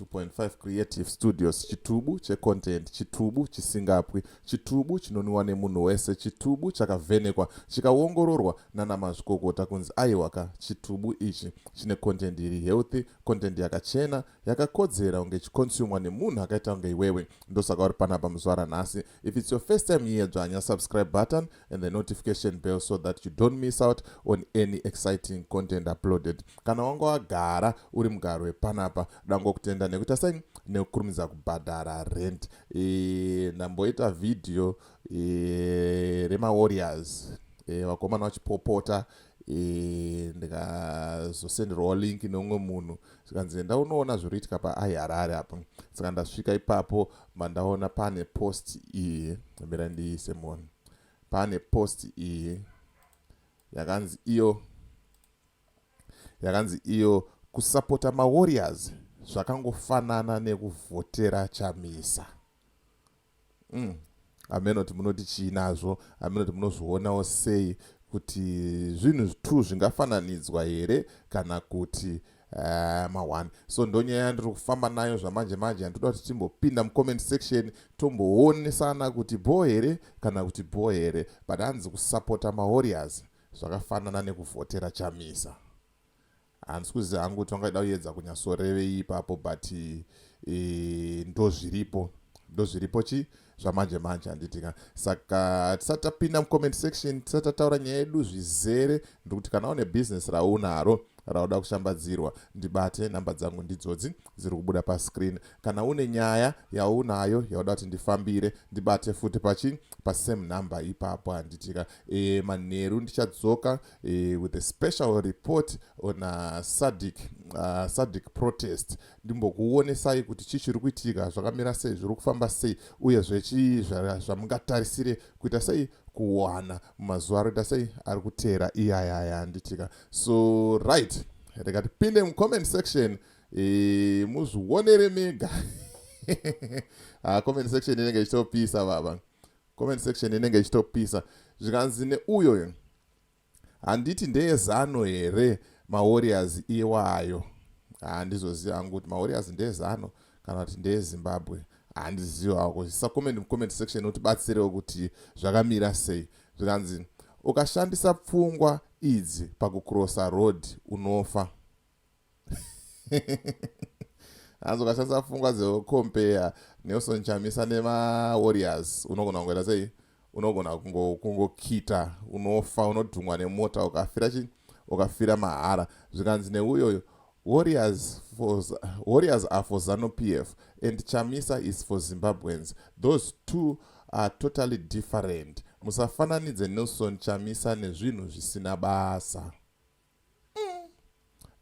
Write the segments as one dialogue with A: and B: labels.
A: 2.5 creative studios chitubu checontent chitubu chisingapwi chitubu chinoniwa nemunhu wese chitubu chakavhenekwa chikaongororwa nanamazvikokota kunzi aiwaka chitubu ichi chine content iri healthy content yakachena yakakodzera kunge ichikonsumwa nemunhu akaita kunge iwewe ndosaka uri panapa muzuva ranhasi if its your first time here dzvanya subscribe button and the notification bell so that you don't miss out on any exciting content uploaded kana wanga wagara uri mugaro wepanapa dangokutenda nekuita sei nekukurumidza kubhadhara rent e, ndamboita vhidhiyo e, remawarriors e, vakomana vachipopota e, Eh, ndikazosenderwawo link neumwe munhu zvikanzi enda unoona zviri kuitika paaiharare apa saka ndasvika ipapo mandaona pane post iyi mira ndiise munhu pane post iyi yakanzi iyo yakanzi iyo kusapota mawarriors zvakangofanana nekuvhotera chamisa mm. hameno kuti munoti chii nazvo hameno kuti munozvionawo sei kuti zvinhu zvitu zvingafananidzwa here kana kuti eh, mahwani so ndonyaya yandiri kufamba nayo zvamanje manje handitoda kuti timbopinda mucomment section tomboonesana kuti bho here kana kuti bho here but hanzi kusapota mawarriors zvakafanana nekuvhotera chamisa Handisi kuziva hangu kuti vangaida kuyedza kunyatsorevei ipapo but e, ndozviripo ndozviripo chi zvamanje manje handitika saka tisati tapinda mucomment section tisati tataura nyaya yedu zvizere ndikuti kana une bhizinesi raunaro rauda kushambadzirwa ndibate nhamba dzangu ndidzodzi dziri kubuda pascreen kana une nyaya yaunayo yauda kuti ndifambire ndibate futi pachi pasame number ipapo handitika e, manheru ndichadzoka uh, with a special report on uh, sadic uh, sadic protest ndimbokuonesai kuti chii chiri kuitika zvakamira sei zviri kufamba sei uyezve chii zvamungatarisire kuita sei kuwana mumazuva aroita sei ari kuteera iyaya aya anditika so right rega tipinde mucomment section e, muzvionere mega ah, comment section inenge ichitopisa baba comment section inenge ichitopisa zvikanzi neuyoyo handiti ndeye zano here mawarriors iwayo handizoziva hangu kuti mawarriors ndeye zano kana kuti ndeye zimbabwe handizivawo kuti sacoment mucomment section utibatsirewo kuti zvakamira sei zvikanzi ukashandisa pfungwa idzi pakucrossa road unofa hanzi ukashandisa pfungwa dzekompea nelson chamisa nemawarriors unogona kungoita sei unogona kungokita unofa unodhumwa nemota ukafira chi ukafira mahara zvikanzi neuyoyo warriors for warriors are for zanu p f and chamisa is for zimbabweans those two are totally different musafananidze nelson chamisa nezvinhu zvisina basa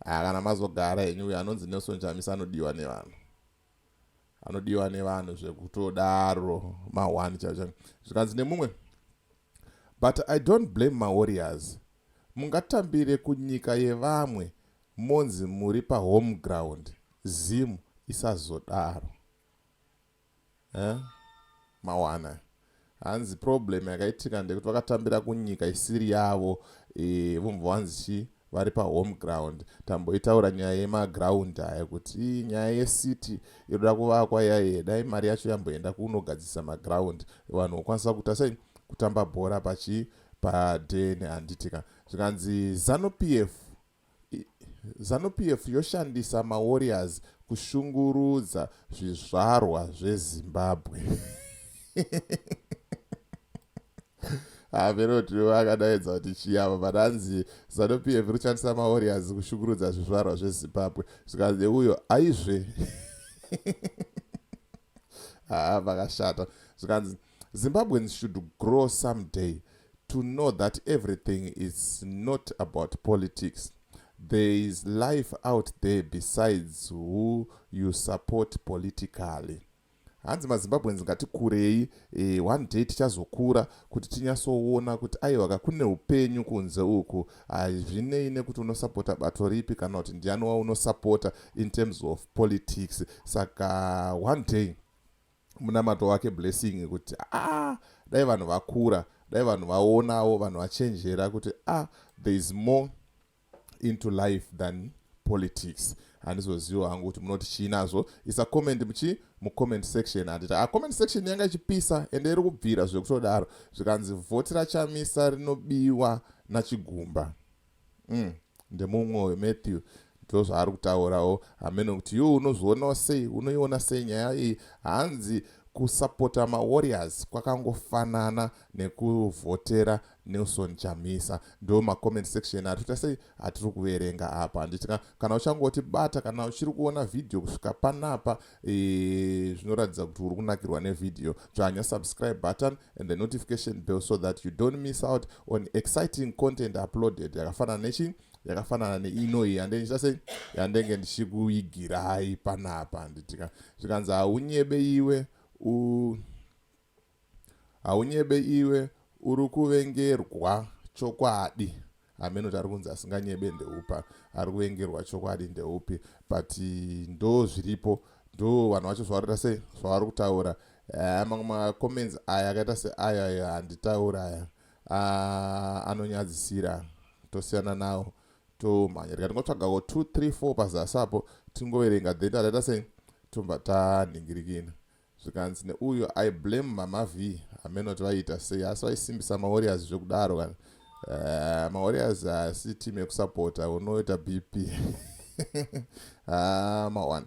A: haa kana mazogara henyu uyo anonzi nelson chamisa anodiwa nevanhu anodiwa nevanhu zvekutodaro ma1 chacha zvikanzi nemumwe but i don't blame mawarriors mungatambire kunyika yevamwe monzi muri pahome ground zim isazodaro eh? mawana hanzi problem yakaitika ndekuti vakatambira kunyika isiri yavo e, vomva wanzi chii vari pahome ground tamboitaura nyaya yemaground aya kuti nyaya yecity inoda kuvakwa yaiye dai mari yacho yamboenda kunogadzisa maground vanhu vokwanisa kuita sei kutamba bhora pachi padheni handitika zvikanzi zanu p f Zanu-PF yoshandisa maWarriors kushungurudza zvizvarwa zveZimbabwe. hameno kuti vakadaidza kuti chiyava but hanzi zanup yevi kushandisa maorias kushungurudza zvizvarwa zvezimbabwe zvikanzi neuyo aizve haa vakashata zvikanzi Zimbabweans should grow some day to know that everything is not about politics there is life out there besides who you support politically hanzi mazimbabweans ngatikurei e, one day tichazokura kuti tinyasoona kuti aiwaka kune upenyu kunze uku hazvinei nekuti unosapota bato ripi kana kuti ndiani waunosapota in terms of politics saka one day munamato wake blessing kuti ah dai vanhu vakura dai vanhu vaonawo vanhu vachenjera kuti ah there is more into life than politics handizoziwa hangu kuti munoti chii nazvo isa comment muchii mucomment section handiti a ah, comment section yanga ichipisa ende iri kubvira zvekutodaro zvikanzi vhoti rachamisa rinobiwa nachigumba mm, ndemumwoyo matthew ndozvaari kutaurawo hameno kuti yo unozvionawo sei unoiona sei nyaya iyi hanzi kusapota mawarriors kwakangofanana nekuvhotera nelson chamisa ndo macomment section atoita sei atiri kuverenga apa handiti kana uchangotibata kana uchiri kuona vhidhiyo kusvika panapa Eh, zvinoratidza kuti uri kunakirwa nevideo dzvanya subscribe button and the notification bell so that you don't miss out on exciting content uploaded yakafanana nechi yakafanana neinoi yande ndichita sei yandenge ndichikuigirai panapa nditika zvikanzi haunyebe iwe u Haunyebe iwe urikuvengerwa chokwadi. Hameno kuti arikunzi asinganyebe ndeupa arikuvengerwa chokwadi ndeupi but ndozviripo ndo vanhu vacho zvavaroita sei zvavari kutaura eh, mamwe macomments aya akaita seaya aya handitaura aya ah, anonyadzisira tosiyana nawo tomhanya rika tingotsvagawo 2 3 4 pazasi apo tingoverenga then tataita sei tobva tanhingirikina Zvikanzi neuyo I blame mama Vee hameno kuti vaiita sei asi vaisimbisa maWarriors zvekudaro kana uh, maWarriors haasi uh, team yekusapota unoita BP ah, mawana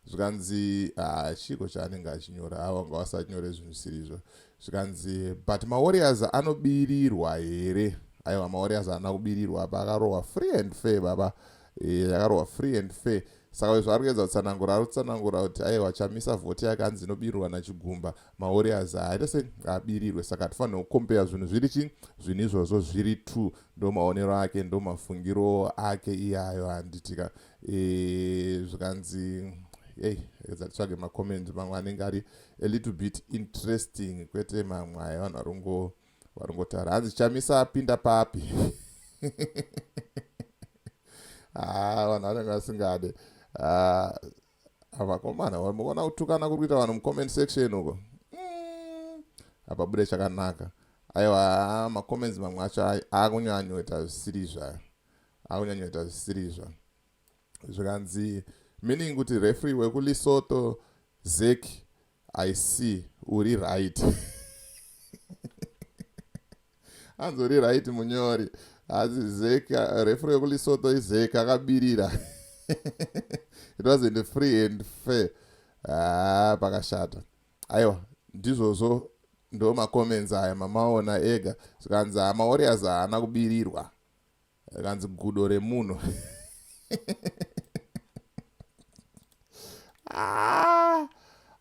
A: zvikanzi ah, chiko chaanenge achinyora ava vanga vasanyore zvinhu zvisiri izvo zvikanzi but maWarriors anobirirwa here aiwa maWarriors haana kubirirwa apa akarohwa free and fair baba Eh, yakarohwa free and fair saka izvo ari kuedza kutsanangura ari kutsanangura kuti aiwa chamisa vhoti yake hanzi inobirirwa nachigumba mawarriors haita se abirirwe saka hatifanire kukombeya zvinhu zviri chii zvinhu izvozvo zviri two ndo maonero ake ndo mafungiro ake iyayo handitika e, zvikanzi ei edza titsvage macomendi mamwe anenge ari a little bit interesting kwete mamwe aya vanhu vari kungo varingotaura hanzi chamisa apinda papi haa ah, vanhu vanenge vasingade ah, avakomana vaona kutukana kuri kuita vanhu mucomment section uko mm, apabude chakanaka aiwa ah, macomments mamwe acho akunyanyoita zvisiri zvayo akunyanyoita zvisiri zva zvikanzi meaning kuti refree wekulisoto zeki I see uri right hanzi uri right munyori hanzi zeka refro yekulisoto izeka akabirira it wasn't free and fair ah, pakashata aiwa ndizvozvo ndo macomments aya mamaona ega zvikanzi hama warriors haana kubirirwa kanzi gudo remunhu ah!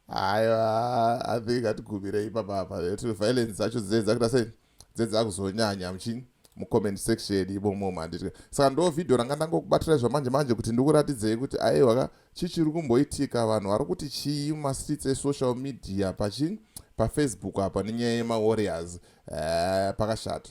A: aiwa i think atigumire ipapa apa kuti violence dzacho dzee dzakuita sei dzee dzakuzonyanya muchini mucomment section imomo manditya saka ndo vhidhiyo ranga ndangokubatira zvamanje manje kuti ndikuratidzei kuti aiwa ka chii chiri kumboitika vanhu vari kuti chii mumastreets esocial media pachii pafacebook apa nenyaya yemawarriors eh, pakashata